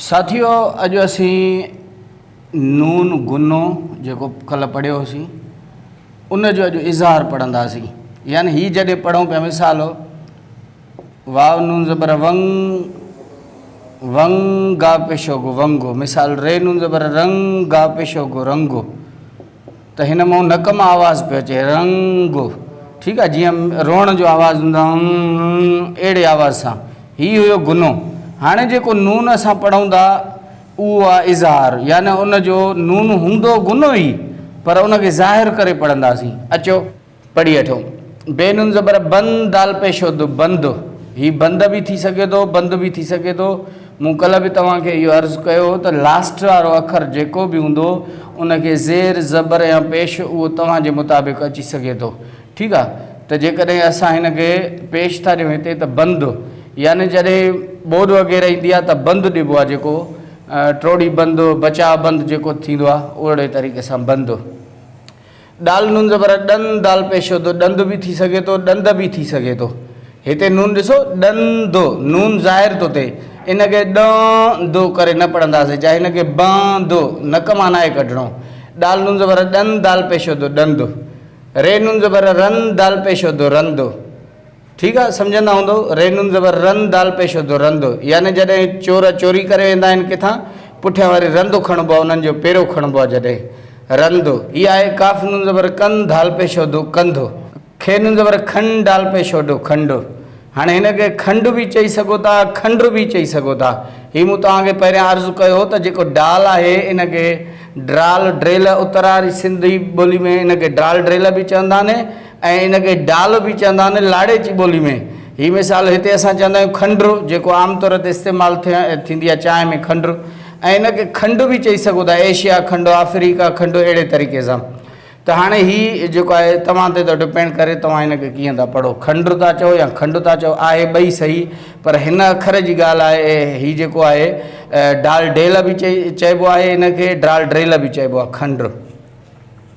ساٿيو اڄ اسين نون گنو جيڪو ڪلهه پڙهيو هوسين ان جو اڄ اظهار پڙهنداسين يعني هي جڏهن پڙهون پيا مثال هو واو نون زبر ونگ ونگا پشو گو ونگو مثال ري نون زبر رنگ گا پشو گو رنگو ته هن مئو نڪ مان آواز پيو اچي رنگ ٺيڪ آهي جيئن روئڻ جو آواز هوندو آهي ان اهڙي آواز سان هي هيو غنو هاڻي جيڪو نون اسان پڙهون ٿا اهو آهي اظهار يعني ان جو نون هوندو غنو ئي پر ان کي ظاهر ڪري پڙهنداسين اچو پڙهي وٺو. بي نون زبر بن دال پيشو د بند هي بند به ٿي سگهي ٿو بند به ٿي سگهي ٿو مون ڪلهه به توهان کي اهو عرض ڪيو هو ته لاسٽ وارو اکر جيڪو به هوندو ان کي زير زبر يا پيش اهو توهان جي مطابق اچي سگهي ٿو ٺيڪ آ ته جيڪڏهن اسان هن کي پيش ٿا ڏيون هتي ته بند يعني جڏهن ٻوڏ وغيره ايندي آ ته بند ڏبو آ جيڪو ٽوڙي بند بچاء بند جيڪو ٿيندو آ اهڙي طريقي سان بند. ڏال نون زبر ا ڏن دال پيش و دو ڏند به ٿي سگهي ٿو ڏند به ٿي سگهي ٿو هتي نون ڏسو ڏن د نون ظاهر ٿو ٿئي ان ڪري ڏان د ڪري نه پڙهنداسين جا هن کي بان د نڪ مان ناهي ڪڍڻو ڏال نون زبر ا ڏن دال پيش و دو ڏند ري نون زبر ا رن دال پيش و دو رند. ٺيڪ آ سمجهندا هوندؤ ري نون زبر رن دال پيش هوندو رند يعني جڏهن چور چوري ڪري ويندا آهن ڪٿان پٺيان وري رند کڻبو آ انهن جو پيرو کڻبو آ جڏهن رند هي آهي ڪاف نون زبر ڪن ڌال پيش هوندو ڪنڌ کي نون زبر کن ڊال پيش هوندو کنڊ هاڻي هن کي کنڊ به چئي سگهو ٿا کنڊ به چئي سگهو ٿا هي مون توهان کي پهريان عرض ڪيو هو ته جيڪو ڊال آهي ان کي ڊرال ڊريل اتراري سنڌي ٻولي ۾ ان کي ڊرال ڊريل به چوندا آهن ۽ ان کي ڊال به چوندا آهن لاڙيچي ٻولي ۾. هي مثال هتي اسان چوندا آهيون کنڊ جيڪو عام طور تي استعمال ٿيندي آهي چانهه ۾ کنڊ ۽ ان کي کنڊ به چئي سگهو ٿا ايشيا کنڊ آفريڪا کنڊ اهڙي طريقي سان ته هاڻي هي جيڪو آهي توهان تي ٿو ڊپينڊ ڪري توهان ان کي ڪيئن ٿا پڙهو کنڊ ٿا چئو يا کنڊ ٿا چئو آهي ٻئي صحيح پر هن اکر جي ڳالهه آهي هي جيڪو آهي ڊال ڊيل به چئبو آهي ان کي ڊال ڊريل به چئبو آهي کنڊ.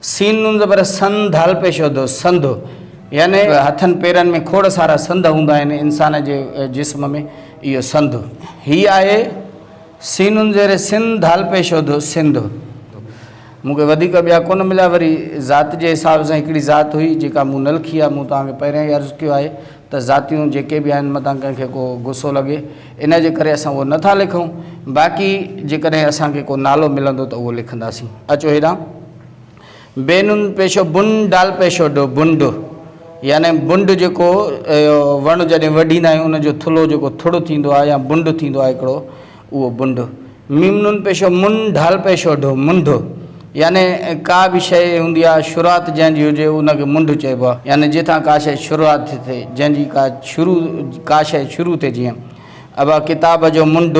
سين نون زبر سن ڌال پيش هو دو سنڌ يعني هٿن پيرن ۾ کوڙ سارا سنڌ هوندا آهن انسان جي جسم ۾ اهو سنڌ هي آهي سين نون زير سن ڌال پيش هو دو سنڌ مون کي وڌيڪ ٻيا ڪونه مليا وري ذات جي حساب سان هڪڙي ذات هئي جيڪا مون نه لکي آهي مون توهان کي پهريان ئي عرض ڪيو آهي ته ذاتيون جيڪي به آهن متان ڪنهن کي ڪو غصو لڳي ان جي ڪري اسان اهو نه ٿا لکون، باقي جيڪڏهن اسان کي ڪو نالو ملندو ته اهو لکنداسين. اچو هيڏانهن. بي نون پيشو بن ڊال پيشو ڊو، بنڊ، يعني بنڊ جيڪو وڻ جڏهن وڍيندا آهيون ان جو ٿلهو جيڪو ٿڙ ٿيندو آهي يا بنڊ ٿيندو آهي هڪڙو اهو بنڊ. م نون پيشو من ڍال پيشو ڍ منڍ يعني ڪا به شيء هوندي آهي شروعات جنهن جي هجي ان کي منڍ چئبو آهي يعني جتان ڪا شيء شروعات ٿي ٿئي جنهن جي ڪا شروع ڪا شيء شروع ٿئي جيئن ابا ڪتاب جو منڍ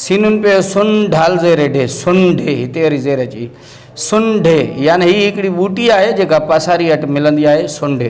س نون پيشو سن ڍال زير ڍي سن ڍي هتي وري زير اچي سن ڍي يعني هي هڪڙي ٻوٽي آهي جيڪا پاساري اٽ ملندي آهي سن ڍي.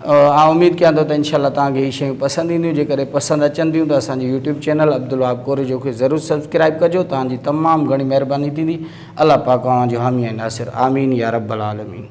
آئون اميد ڪيان ٿو ته انشاء الله توهان کي هي شيون پسند اينديون جيڪڏهن پسند اچن ٿيون ته اسان جي يوٽيوب چينل عبدالوهاب ڪوريجو کي ضرور سبسڪرائب ڪجو توهان جي تمام گهڻي مهرباني ٿيندي الله پاڪ اوهان جو حامي ۽ ناصر آمين يا رب العالمين.